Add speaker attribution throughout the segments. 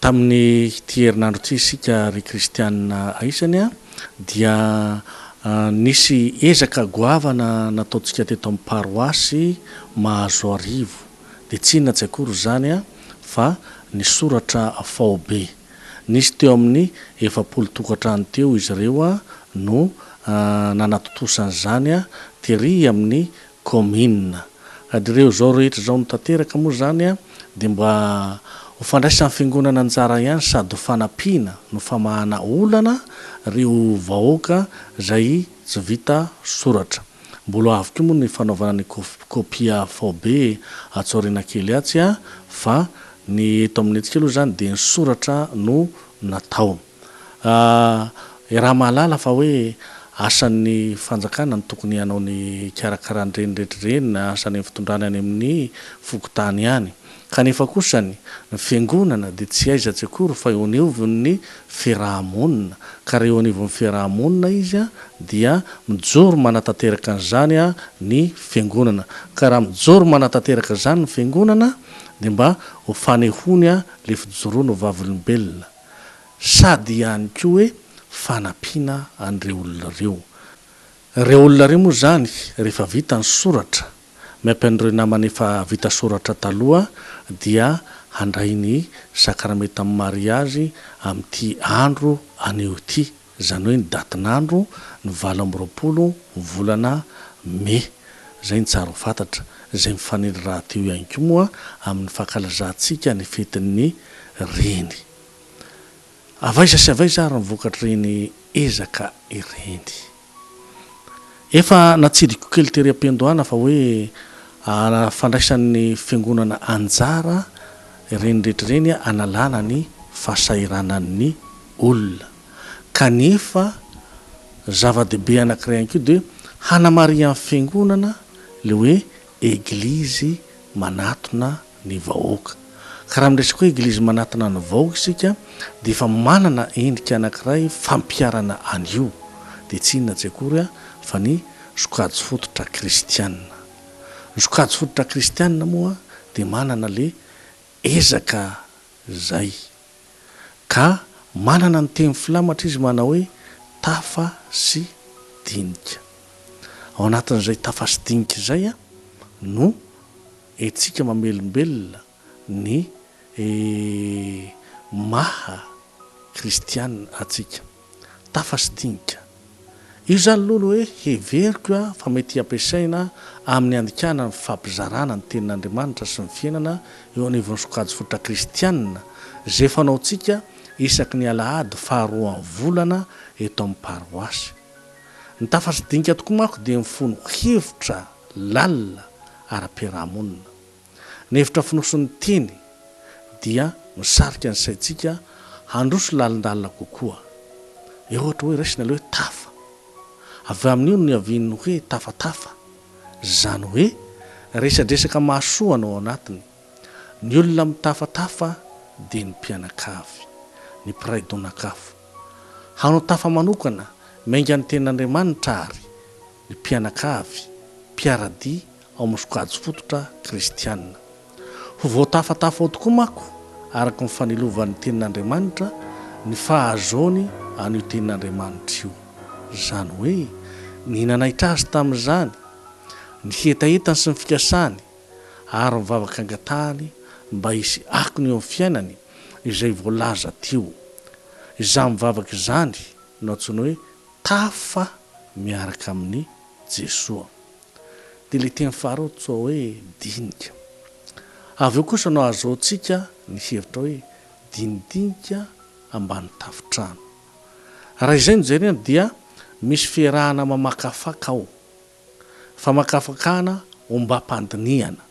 Speaker 1: Tamin'ity herinandro ity isika ry kristianina aisany dia nisy ezaka goavana nataontsika teto amin'ny paroasy Mahazoarivo, dia tsy inona tsy akory izany fa ny soratra faobe. Nisy teo amin'ny efapolo tokantrano teo izy ireo no nanatontosany izany tery amin'ny Kaominina. Ry ireo izao rehetra izao no tanteraka moa izany dia mba ho fandraisan'ny Fiangonana anjara ihany sady ho fanampiana no famahana olana ireo vahoaka izay tsy vita soratra. Mbola ho avy koa moa ny fanaovana ny kopia faobe atsy aoriana kely atsy fa ny eto amintsika aloha izany dia ny soratra no natao. Aah, iaraha mahalala fa hoe asan'ny fanjakana ny tokony hanao ny hikarakara an'ireny rehetra ireny na asan'ny amin'ny fitondrana any amin'ny fokontany any. Kanefa kosa ny ny fiangonana dia tsy aizatsy akory fa eo anivon'ny fiaraha-monina. Ka raha eo anivon'ny fiaraha-monina izy dia mijoro manatanteraka an'izany ny fiangonana. Ka raha mijoro manatanteraka izany ny fiangonana dia mba ho fanehoany ilay fijoroany ho vavolombelona. sady ihany koa hoe fanampiana an'ireo olona ireo. Ireo olona ireo moa izany rehefa vita ny soratra, miampy an'ireo namany efa vita soratra taloha dia handray ny sakramenta amin'ny mariazy amin'ity andro anio ity. izany hoe ny datin'andro ny valo amby roapolo ny volana Mey, izay no tsara ho fantatra, izay mifanely rahateo ihany koa moa amin'ny fankalazantsika ny fetin'ny Reny. Avy aiza sy avy aiza ary ny vokatr'ireny ezaka ireny? Efa natsidiko kely tery am-piandohana fa hoe fandraisan'ny Fiangonana anjara ireny rehetra ireny hanalana ny fahasahiranan'ny. olona. Kanefa, zava-dehibe anankiray ihany koa dia hanamarihan'ny Fiangonana ilay hoe Eglizy manatona ny vahoaka. Ka raha miresaka hoe Eglizy manatona ny vahoaka isika dia efa manana endrika anankiray fampiharana an'io, dia tsy inona tsy akory fa ny sokajy fototra kristiana. Ny sokajy fototra kristiana moa dia manana ilay ezaka izay. Ka manana ny teny filamatra izy manao hoe tafa sy dinika. Ao anatin'izay tafa sy dinika izay no entsika mamelombelona ny maha kristiana antsika. Tafasitinka. Io izany lolo hoe heveriko fa mety ampiasaina amin'ny handikana ny fifampizarana ny Tenin'Andriamanitra sy ny fiainana eo anivon'ny sokajy fototra kristianina izay fanaontsika isaky ny alahady faharoan'ny volana eto amin'ny paroasy. Ny tafasidinika tokoa manko dia mifono hevitra lalina ara-piarahamonina. Ny hevitra fonosin'ny teny dia misarika ny saintsika handroso lalindalina kokoa. Eo ohatra hoe raisina ilay hoe tafa. Avy amin'io no niavian'ny hoe tafatafa. Izany hoe resadresaka mahasoa no ao anatiny. Ny olona mitafatafa dia ny mpianakavy, ny mpiray donakafo. Hanao tafa manokana, miainga ny tenin'Andriamanitra àry, ny mpianakavy, mpiara-dia ao amin'ny sokajy fototra kristiana. Ho voatafatafa ao tokoa manko, araka ny fanilovan'ny Tenin'Andriamanitra, ny fahazoany an'io Tenin'Andriamanitra io. Izany hoe, ny nanaitra azy tamin'izany, ny hetahetany sy ny fikasany, ary ny vavaka angatahany mba hisy akony eo amin'ny fiainany, izay voalaza teo. Izany mivavaka izany no antsoina hoe tafa miaraka amin'i Jesoa. dia ilay teny faharoa antsoa hoe dinika. Avy eo kosa no ahazoantsika ny hevitra hoe dinidinika ambany tafontrano. Raha izay no jerena dia misy fiarahana mamakafaka ao, famakafakana ombam-pandinihana.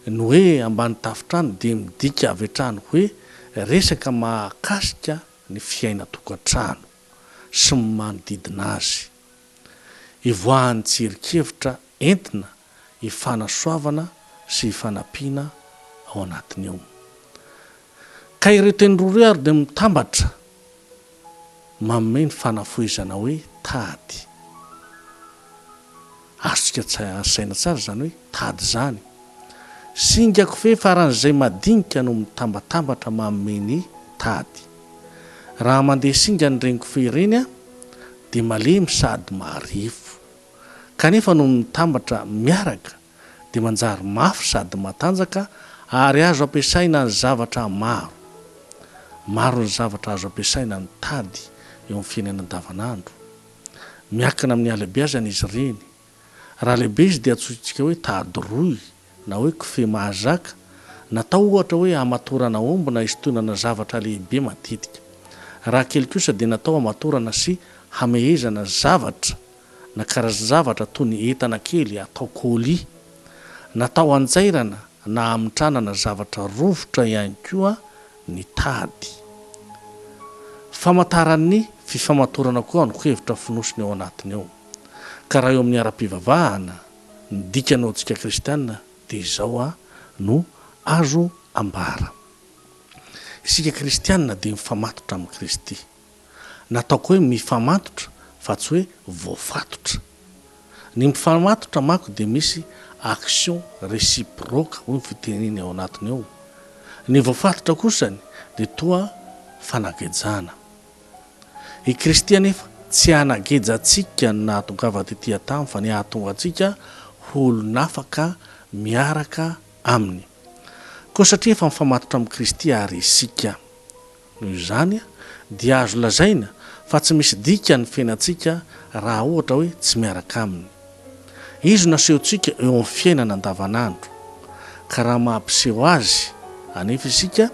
Speaker 1: Ny hoe ambany tafontrano dia midika avy hatrany hoe resaka mahakasika ny fiainan-tokantrano sy ny manodidina azy. Hivoahan'ny tsirinkevitra entina hifanasoavana sy hifanampiana ao anatiny ao. Ka ireo teny roa ireo ary dia mitambatra manome ny fanafohezana hoe tady. Azontsika saina tsara izany hoe tady izany. Singa kofehy faran'izay madinika no mitambatambatra manome ny tady. Raha mandeha singa ny reni-kofehy ireny, dia malemy sady maharefo. Kanefa noho ny mitambatra miaraka dia manjary mafy sady matanjaka ary azo ampiasaina ny zavatra maro. Maro ny zavatra azo ampiasaina ny tady eo amin'ny fiainana andavanandro. Miankina amin'ny halebeazana izy ireny. Raha lehibe izy dia antsointsika hoe tady rohy na hoe kofehy mahazaka, natao ohatra hoe hamatorana omby na hisintonana zavatra lehibe matetika. Raha kely kosa dia natao hamatorana sy hamehezana zavatra na karazan-javatra toy ny entana kely atao colis. Natao hanjairana na hamitranana zavatra rovitra ihany koa ny tady. Famantaran'ny fifamatorana koa ny ankohevitra fonosiny ao anatiny ao. Ka raha eo amin'ny ara-pivavahana, ny dikany ho antsika kristiana dia izao no azo ambara. Isika kristiana dia mifamatotra amin'i Kristy. Nataoko hoe mifamatotra fa tsy hoe voafatotra. Ny mifamatotra manko dia misy action reciproque hoy ny fiteniny ao anatiny ao. Ny voafatotra kosany dia toa fanagejana. I Kristy anefa tsy hanageja antsika ny nahatongava tetỳ an-tany, fa ny hahatonga antsika ho olon'afaka miaraka aminy. Koa satria efa mifamatotra amin'i Kristy àry isika, noho izany dia azo lazaina fa tsy misy dikany ny fiainantsika raha ohatra hoe tsy miaraka aminy. Izy no asehontsika eo amin'ny fiainana andavanandro, ka raha maha-mpiseho azy anefa isika,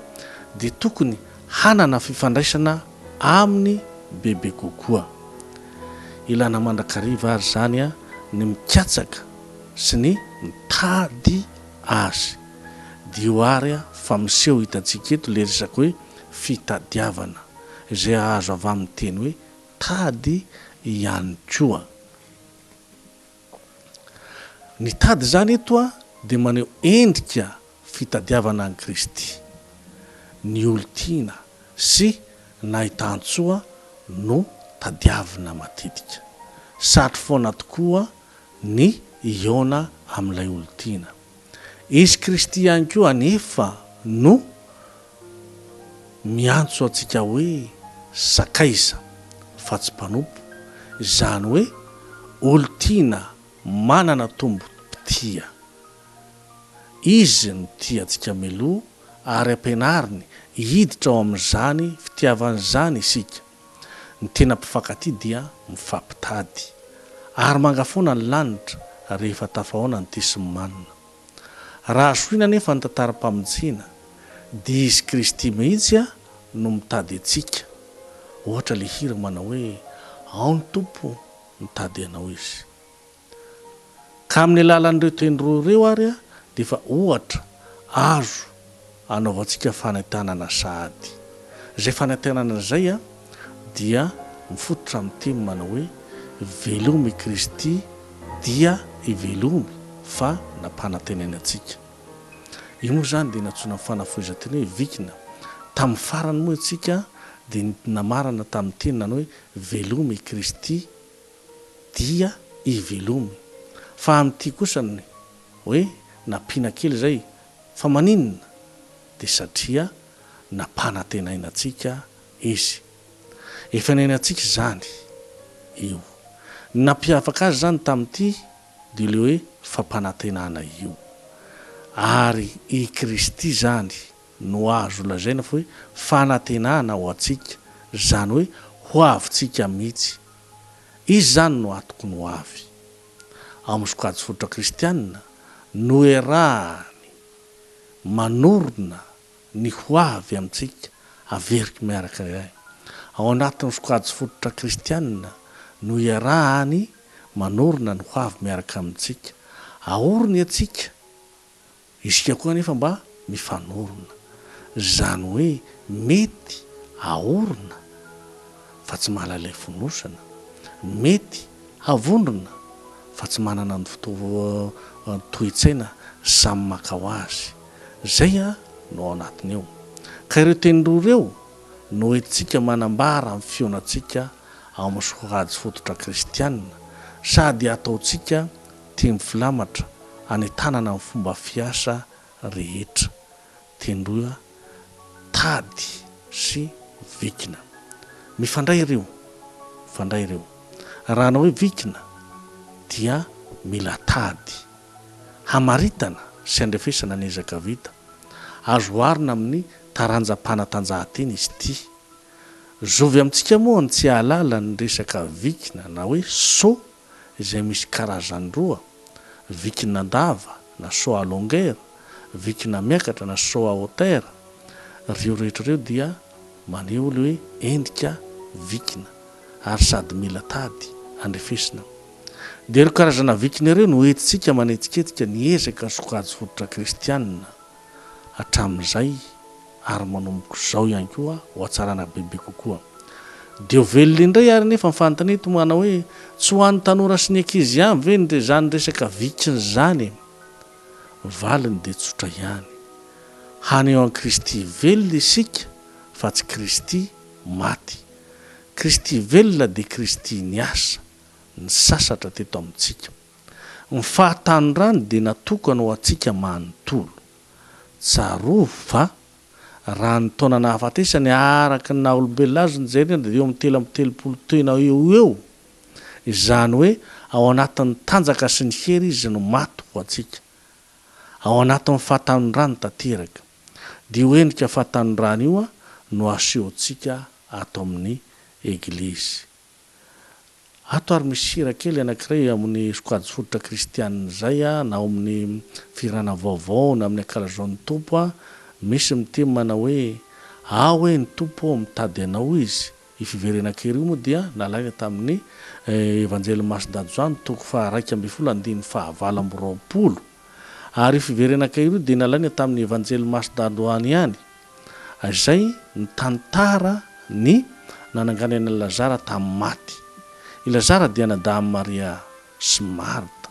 Speaker 1: dia tokony hanana fifandraisana aminy bebe kokoa. Ilana mandrakariva ary izany ny mikatsaka sy ny mitady azy. Dio ary fa miseho hitantsika eto ilay resaka hoe fitadiavana, izay azo avy amin'ny teny hoe tady ihany koa. Ny tady izany eto dia maneho endrika fitadiavana an'i Kristy. Ny olon-tiana sy nahitan-tsoa no tadiavina matetika. Satry foana tokoa ny hihaona amin'ilay olon-tiana. Izy Kristy ihany koa anefa no miantso antsika hoe sakaiza fa tsy mpanompo, izany hoe olon-tiana manana tombom-pitia. Izy no tia antsika mialoha ary ampianariny hiditra ao amin'izany fitiavany izany isika. Ny tena mpifankatia dia mifampitady. Ary manga foana ny lanitra rehefa tafahaona ny tia sy ny manina. Raha zohina anefa ny tantaram-pamonjena dia izy Kristy mihitsy no mitady antsika. Ohatra ilay hira manao hoe Ao ny Tompo mitady anao izy. Ka amin'ny alalan'ireo teny roa ireo ary dia efa ohatra azo anaovantsika fanentanana sahady. Izay fanentanana izay dia mifototra amin'ny teny manao hoe Veloma i Kristy dia hivelomy fa nampanantenainy antsika. Io moa izany dia nantsoina amin'ny fanafohezan-teny hoe vikina. Tamin'ny farany moa isika dia namarana tamin'ny teny nanao hoe Veloma i Kristy. dia hivelomy. Fa amin'ity kosa ny hoe nampiana kely izay fa maninona? dia satria nampanantenaina antsika Izy. Efa niainantsika izany io. Ny nampiavaka azy izany tamin'ity dia ilay hoe fampanantenana io. Ary i Kristy izany no azo lazaina fa hoe fanantenana ho antsika, izany hoe ho avintsika mihitsy. Izy izany no atokony ho avy. Ao amin'ny sokajy fototra kristianina, noerahany manorina ny ho avy amintsika haveriko miaraka iray. Ao anatin'ny sokajy fototra kristianina, noerahany manorina ny ho avy miaraka amintsika. Aoriny antsika Isika koa anefa mba mifanorona. Izany hoe mety haorina fa tsy mahalala ilay fonosana, mety havondrona fa tsy manana ny toe-tsaina samy maka ho azy. Izay no ao anatiny eo. Ka ireo teny roa ireo no hoentintsika manambara ny fihaonantsika ao amin'ny sokajy fototra kristiana sady hataontsika Teny filamatra hanentanana ny fomba fiasa rehetra. Tendroa tady sy vikina. Mifandray ireo. Mifandray ireo. Raha hanao hoe vikina dia mila tady. Hamaritana sy handrefesana ny ezaka vita. Azo oharina amin'ny taranjam-panatanjahantena izy ity. Zovy amintsika moa ny tsy hahalala ny resaka vikina na hoe saut. izay misy karazany roa, vikin'andava na saut à longueur, vikina miakatra na saut à hauteur, ireo rehetra ireo dia maneho ilay hoe endrika vikina ary sady mila tady handrefesina. Dia ireo karazana vikina ireo no entintsika manetsiketsika ny ezaka sokajy fototra kristiana hatramin'izay ary manomboka izao ihany koa ho hatsarana bebe kokoa. Dia ho velona indray ary anefa ny fanontaniana eto manao hoe tsy ho an'ny tanora sy ny ankizy ihany ve ny izany resaka vikiny izany e? Ny valiny dia tsotra ihany. Haneho an'i Kristy velona isika fa tsy Kristy maty. Kristy velona dia Kristy niasa, nisasatra teto amintsika. Ny fahatanorany dia natokana ho antsika manontolo. Tsarovy fa, raha ny taona nahafatesany araka ny naha-olombelona azy ny Jairina dia eo amin'ny telo amby telopolo taona eo ho eo, izany hoe ao anatin'ny tanjaka sy ny hery izy no maty ho antsika. Ao anatin'ny fahatanorany tanteraka. Dia io endrika fahatanorany io no asehontsika ato amin'ny Eglizy. Ato ary misy hira kely anankiray amin'ny sokajy fototra kristianina izay na ao amin'ny fihirana vaovao na amin'ny ankalazaon'ny Tompo a, misy mitim manao hoe, Aho hoe ny Tompo ô, mitady Anao Izy. Io fiverenan-kira io moa dia nalaina tamin'ny Evanjelin'i Masindadozano toko faha iraika ambin'ny folo andininy faha valo amby roapolo. Ary io fiverenan-kira io dia nalaina tamin'ny Evanjelin'i Masindadozano ihany. izay nitantara ny nananganany an'i Lazara tamin'ny maty. I Lazara dia anadahin'i Maria sy Marta.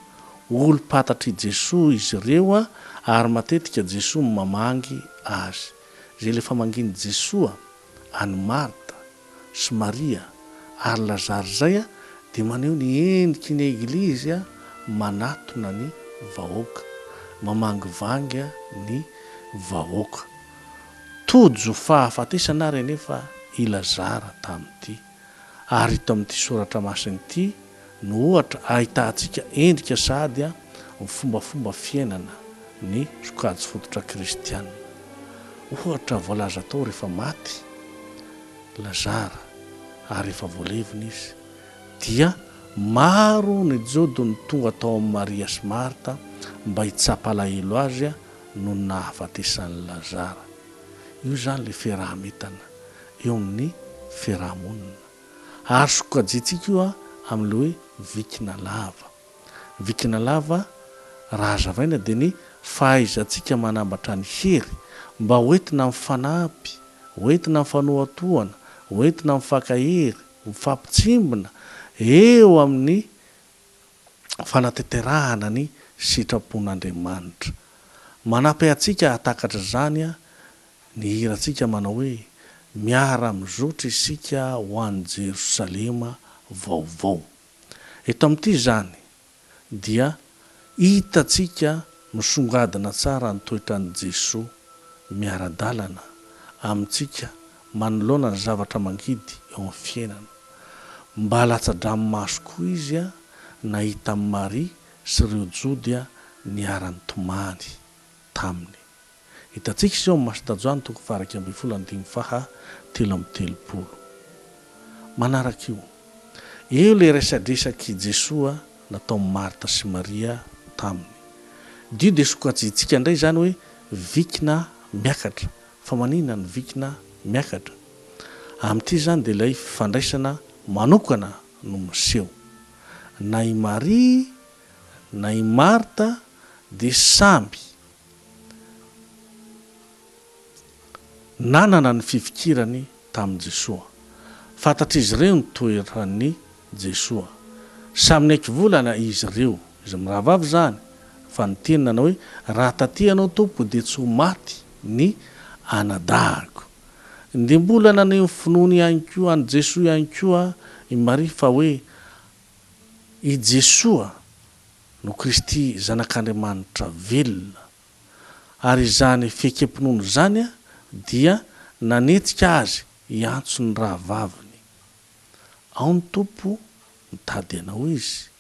Speaker 1: Olom-pantatr'i Jesoa izy ireo ary matetika Jesoa no mamangy azy. Izay ilay famangian'i Jesoa an'i Marta sy Maria ary Lazare izay dia maneho ny endriky ny Eglizy manatona ny vahoaka, mamangivangy ny vahoaka. Tojo fahafatesana ary anefa i Lazare tamin'ity ary ito amin'ity soratra masina ity, no ohatra ahitantsika endrika sahady amin'ny fombafomba fiainana ny sokajy fototra kristiana. Ohatra voalaza tao rehefa maty Lazara ary efa voalevina izy dia maro ny Jody no tonga tao amin'i Maria sy Marta mba hitsapa alahelo azy noho ny nahafatesan'i Lazara. Io izany ilay fiaraha-mitana eo amin'ny fiaraha-monina. Ary sokajiantsika io amin'ilay hoe vikina lava. Ny vikina lava, raha hazavaina, dia ny fahaizantsika manambatra ny hery mba hoentina mifanampy, hoentina mifanohatohana, hoentina mifankahery, mifampitsimbina eo amin'ny fanatanterahana ny sitrapon'Andriamanitra. Manampy antsika hahatakatra izany Ny hirantsika manao hoe, Miara-mizotra isika ho any Jerosalema vaovao. Eto amin'ity izany dia hitantsika misongadina tsara ny toetran'i Jesoa miara-dalana amintsika manoloana ny zavatra mangidy eo amin'ny fiainana. Mba latsa-dranomaso koa izy nahita an'i Maria sy ireo Jody niara-nitomany taminy. Hitantsika izao amin'ny Masotanjoany toko faha-iraika ambin'ny folo andininy faha telo amby telopolo. Manaraka io. Eo ilay resadresak'i Jesoa nataon'i Marta sy Maria taminy. Dio dia sokajiantsika indray izany hoe vikina miakatra. Fa maninona no vikina miakatra? Amin'ity izany dia ilay fifandraisana manokana no miseho. Na i Maria na i Marta dia samby Nanana ny fifikirany tamin'i Jesoa. Fantatr'izy ireo ny toeran'i Jesoa. Samy niaiky volana izy ireo, izy mirahavavy izany, fa niteny nanao hoe, Raha taty Ianao, Tompo, dia tsy ho maty ny anadahiko. Dia mbola naneho ny finoany ihany koa, an'i Jesoa ihany koa, i Maria, fa hoe i Jesoa, no Kristy Zanak'Andriamanitra velona, ary izany fiekem-pinoana izany dia nanetsika azy hiantso ny rahavaviny. Ao ny Tompo mitady anao izy.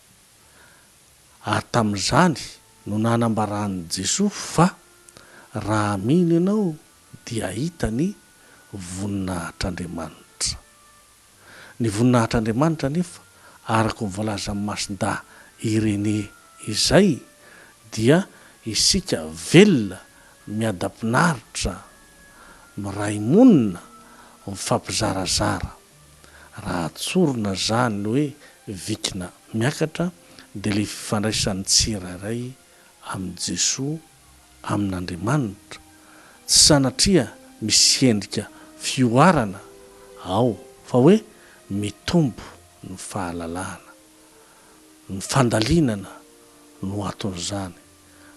Speaker 1: Ary tamin'izany no nanambaran'i Jesoa fa, Raha mino ianao dia hahita ny voninahitr'Andriamanitra. Ny voninahitr'Andriamanitra anefa, araka ny voalazan'i Masindahy Irénée izay, dia isika velona miadam-pinaritra, miray monina, mifampizarazara. Raha tsorina izany hoe vikina miakatra, dia ilay fifandraisan'ny tsirairay amin'i Jesoa, amin'Andriamanitra, tsy sanatria misy endrika fihoarana ao fa hoe mitombo ny fahalalahana. Ny fandalinana no aton'izany.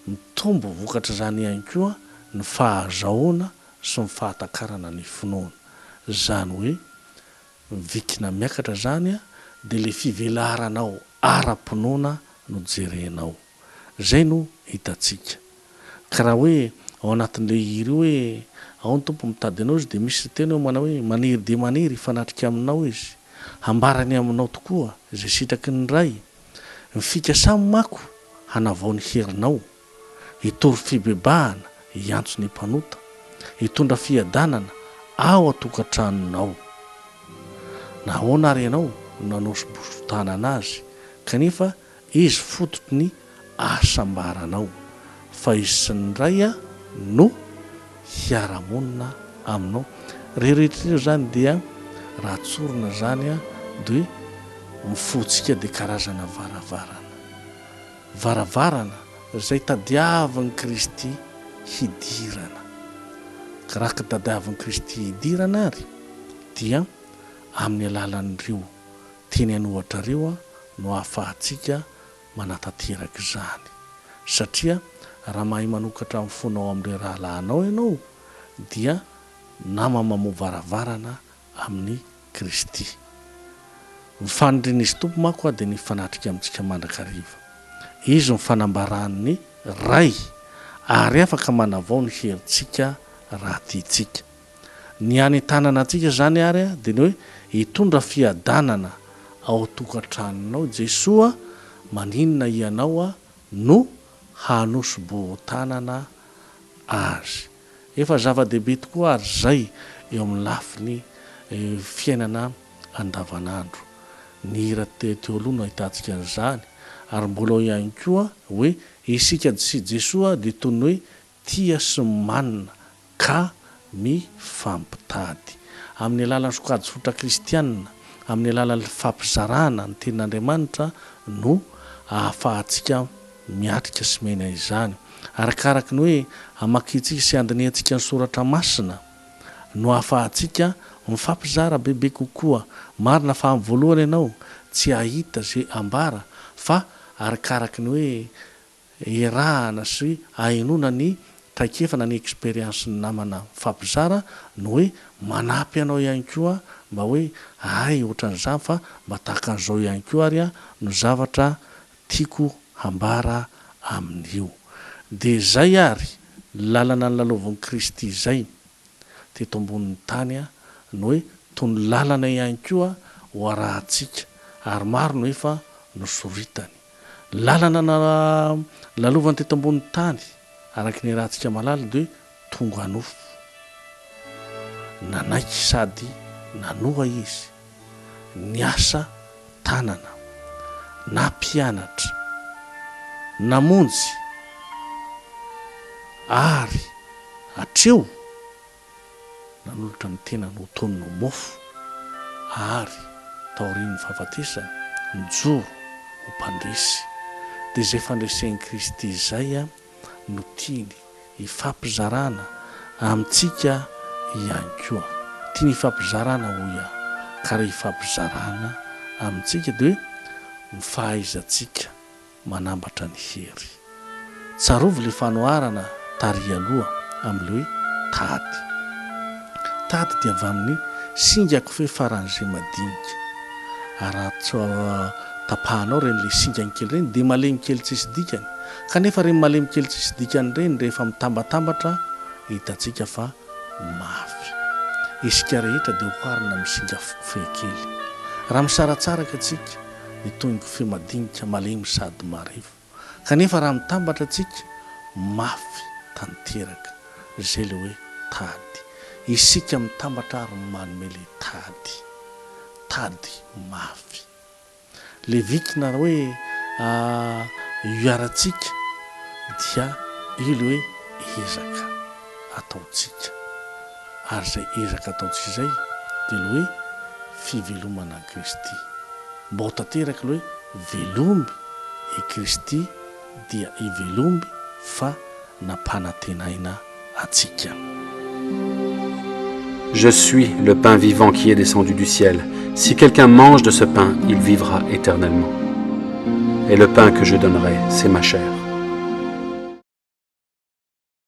Speaker 1: Mitombo vokatr'izany ihany koa ny fahazahoana sy ny fahatakarana ny finoana. Izany hoe mivikina miakatra izany dia ilay fivelaranao ara-pinoana no jerenao. Izay no hitantsika. Ka raha hoe ao anatin'ilay hira io hoe, ao ny Tompo mitady anao izy dia misy teny ao manao hoe, maniry dia maniry hifanatrika aminao izy, hambarany aminao tokoa izay sitraky ny Ray, ny fikasany manko hanavao ny herinao, hitory fibebahana, hiantso ny mpanota, hitondra fiadanana ao an-tokantranonao. Nahoana ary ianao no nanao sobosobo-tanana azy, kanefa Izy fototry ny ahasambaranao, fa Izy sy ny Ray no hiara-monina aminao. Ireo rehetra ireo izany dia raha tsorina izany dia ny fontsika dia karazana varavarana. Varavarana izay tadiavin'i Kristy hidirana. Ka raha ka tadiavin'i Kristy hidirana ary dia amin'ny alalan'ireo teny an'ohatra ireo no ahafahantsika manatanteraka izany. Satria raha mahay manokatra ny fonao amin'ireo rahalahinao ianao, dia nama mamoha varavarana amin'i Kristy. Ny fanirian'izy Tompo manko aho dia ny hifanatrika amintsika mandrakariva. Izy no fanambaran'ny Ray, ary afaka manavao ny herintsika raha tiantsika. Ny any tanana antsika izany ary dia ny hoe hitondra fiadanana ao tokantranonao Jesoa maninona hianao no hanosoboho tanana azy. Efa zava-dehibe tokoa ary izay eo amin'ny lafiny fiainana andavanandro. Ny hira teo aloha no ahitantsika an'izany ary mbola ao ihany koa hoe isika sy Jesoa dia toy ny hoe Tia sy manana ka mifampitady. Amin'ny alalan'ny sokajy-fototra kristiana, amin'ny alalan'ny fifampizarana ny Tenin'Andriamanitra no ahafahantsika miatrika sy miaina izany. Arakaraka ny hoe hamakintsika sy handinihantsika ny Soratra Masina no ahafahantsika mifampizara bebe kokoa. Marina fa amin'ny voalohany ianao tsy hahita izay ambara fa arakaraka ny hoe Erahana sy ahenoana ny traikefa na ny expérience-n'ny namana mifampizara no hoe manampy anao ihany koa mba hoe hay ohatran'izany fa mba tahaka an'izao ihany koa ary no zavatra tiako hambara amin'io. Dia izay ary, ny lalana nilalaovin'i Kristy izay teto ambonin'ny tany no hoe tony lalana ihany koa ho arahantsika ary maro no efa nosoritany. Lalana nalalovany teto ambonin'ny tany, araka ny iarahantsika mahalala, dia hoe tonga nofo. Nanaiky sady nanoa izy, niasa tanana, nampianatra, namonjy, ary hatreo nanolotra ny tenany ho tonony ho mofo, ary, taorian'ny fahafatesany, nijoro ho mpandresy. Dia izay fandresen'i Kristy izay no tiany hifampizarana amintsika ihany koa. Tiany hifampizarana, hoy aho, ka rehefa hifampizarana amintsika, dia hoe ny fahaizantsika. Manambatra ny hery. Tsarovy ilay fanoharana tary aloha amin'ilay hoe tady. Tady dia avy amin'ny singa kofehy faran'izay madinika. Araho tapahanao ireny ilay singany kely ireny dia malemy kely tsisy dikany. Kanefa ireny malemy kely tsisy dikany ireny rehefa mitambatambatra hitantsika fa mafy. Isika rehetra dia oharina amin'ny singa kofehy kely. Raha misaratsaraka isika, hitombo feo madinika malemy sady marivo. Kanefa raha mitambatra tsika mafy tanteraka izay le hoe tady. Isika mitambatra ary manome le tady. Tady mafy. Le vik na hoe iaratsika dia io le hoe ezaka. ataontsika. Ary izay ezaka ataontsika izay dia ilay hoe fivelomana an'i Kristy. Mba ho tanteraka ilay hoe velomby i Kristy dia hivelomby fa nampanantenaina antsika.
Speaker 2: Je suis le pain vivant qui est descendu du ciel, si quelqu'un mange de ce pain, il vivra éternellement. Et le pain que je donnerai, c'est ma chair.